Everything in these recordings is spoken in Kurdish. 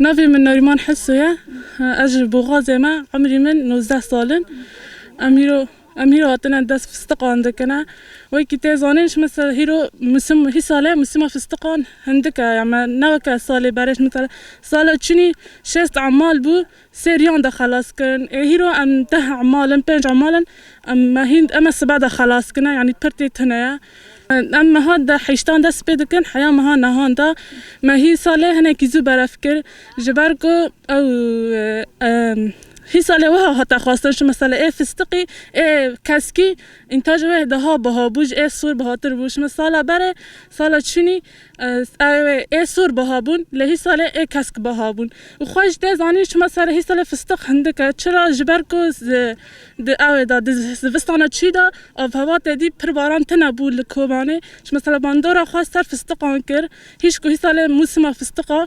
Navê min Nariman Heso ye. Ez ji Boxazê me. Emrî min nozdeh sal in. Em îro Em hîro hatine dest fistiqan dikine. Wekî tê zanîn ji misal hîro misim hî sale misima fistiqan hindik e ya me ne weke salê berê ji misal sala çinî şêst emal bû sê riyan de xelas kirin ê hîro em deh emal in pênc emal in em me hîn eme sibe de xelas kine yanî pir tê tune ye. Em meha de heştan dest pê dikin heya meha nihan de me hî salê hinekî zû beref kir ji ber ku ew Hî salê wiha hate xwestin şû mesele ê fistiqî, ê keskî, întajê wê daha biha bû ji ê sor bihatir bû. Şû me sala berê, sala çûnî ewê wê ê sor biha bûn lê hî salê ê kesk biha bûn. Û xwe ji tê zanîn şû me serê hî salê fistiq hindik e. Çira ji ber ku di di ewê de di zivistana çû de avhewa tê dî pir baran tine bû li Kobanê. Şû me sala bandora xwe ser fistiqan kir. Hîşku hî salê mûsima fistiqa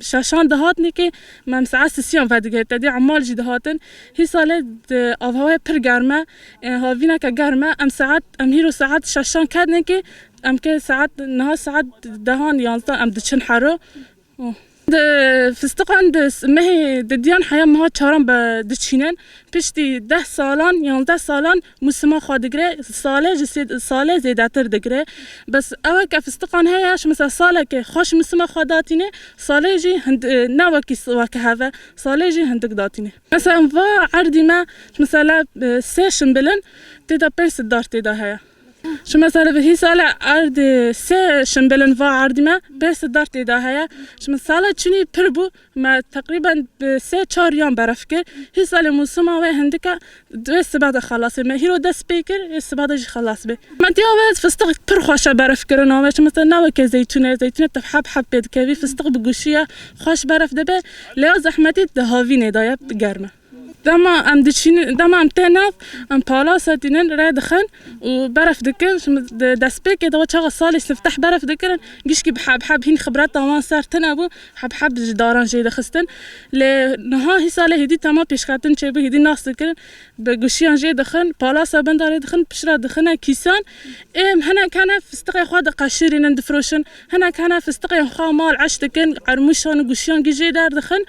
Şaşan dihatine ke mem saet sisiyan vedigihit tedê emal jî dihatin. Hî sale di avhewaya pir germ e ên havîna ke germ e em saet em hîro saet şaşan ketine ke em ke saet niha saet dehan yanzdan em diçin hero û di fistiqan di mehê di diyan heya meha çaran be diçînin piştî deh salan yanzdeh salan Musima xwe digire sale ji sê sale zêdetir digire bes ew ke fistiqan heye ji misa saleke xwe ji musima xwe datîne sale jî ne wekî weke heve sale jî hindik datîne. Misa em va erdî me ji misala sê şimbil in tê de pênc siddar tê de heye ji misala vihî sale erdê sê şimbil in va erdî me pênc siddar tê de heye ji misala çinî pir bû Me teqrîben sê çar yan berf kir. Hîsa li mûsima wê hindik e. Wê sibe de xelas bê. Me hîro dest pê kir, ê sibe de jî xelas bê. Me diya wê fistiq pir xweş e berfkirina wê. Çimesel ne weke zeytûn e. Zeytûnê tu heb heb pê dikevî. Fistiq bi gûşî ye. Xweş berf dibe. Lê ya zehmetî di havînê de ye, germ e. Dema em diçînin, dema em tên nav, em pala setînin, rê dixin û berf dikin. Di destpêkê de we çaxa salê sifteh berf dikirin, gişkî bi heb heb hîn xibreta wan ser tune bû, heb heb di ji daran jê dixistin. Lê niha hîsa lê hêdî tema pêşketin çêbû, hêdî nas dikirin, bi guşiyan jê dixin, palasa bin de rê dixin, piştre dixine kîsan. Êm hinek hene fistiqê xwe diqeşirînin, difiroşin, hinek hene fistiqên xwe mal eş dikin, ermûşan û guşiyan jê derdixin.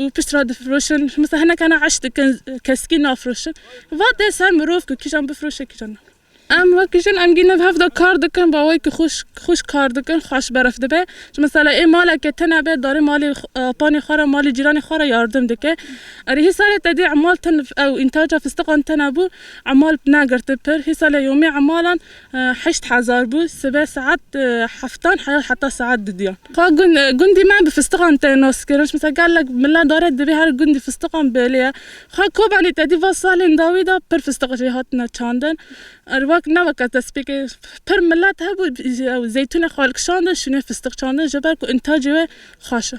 û pişt re difiroşin misa hineke ne eş dikin keskî nafiroşin va dê ser mirov ku kîjan bifiroşe kîjan na. Em wek jin em gîn hev de kar dikin va wek xweş xweş kar dikin xweş berf dibe ji misala ê maleke tune be darê malê apanê xwe re malê cîranê xwe re yardim dike erê hê salê te dê emal tune ew întaca fistiqan tune bû emal negirti pir hê salê yomê emalan Heşt hezar bû. Sibe saet heftan heya heta saet du diyan. Ka gund gundî me bi fistiqan tê naskirin. Ji mesela gelek mile dare divê her gundî fistiqan bêlê ye. Ka Kobanî te dî va salên dawî de pir fistiq jê hatine çandin. Er wek ne weke destpêkê pir milet hebû ew zeytûnê xwe li kişandin şûnê fistiq çandin ji ber ku întacê wê xweş e.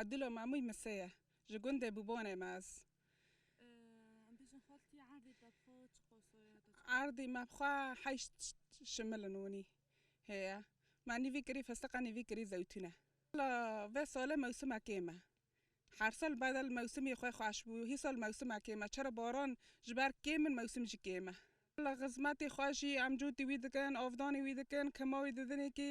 Adilo Mamûy Mısê ye, ji gundê Bûbonê me ez. Em bêjin xwe li tî erdê te bixwe çi qosoyê hate çi? Erdê me bixwe heşt şimil in wînî heye. Me nîvî kirî fistiq e nîvî kirî zewtûn e. Wela vê solê mewsima kêm e. Her sal bedel mewsimê xwe xweş bû. Hî sal mewsima kêm e. Çera baran ji ber kêm in mewsim jî kêm e. Wela xizmetê xwe jî em cotî wî dikin, avdanê wî dikin, kima wî didin êkî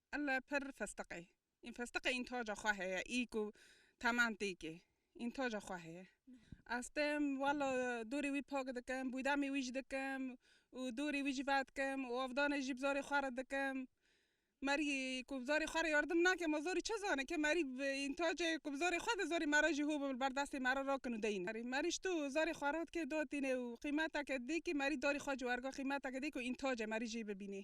Ella pir festeqê. În festeqê în taca xwe heye î ku teman têkê. În taca xwe heye. Ez tên walla dorê wî pak dikim, bûdemê wî jî dikim û dorê wî jî vedikim û avdanê jî bi zarê xwe re dikim. Merî ku bi zarê xwe re yardim nake ma zarî çi zane ke merî în tacê ku bi zarê xwe de zarê me re jî hû bi ber destê me re rakin û deyne. Merî ji to zarê xwe re dikê datîne û qîmeteke dikê merî darê xwe ji werga qîmeteke dikê ku în tacê merî jî bibînê.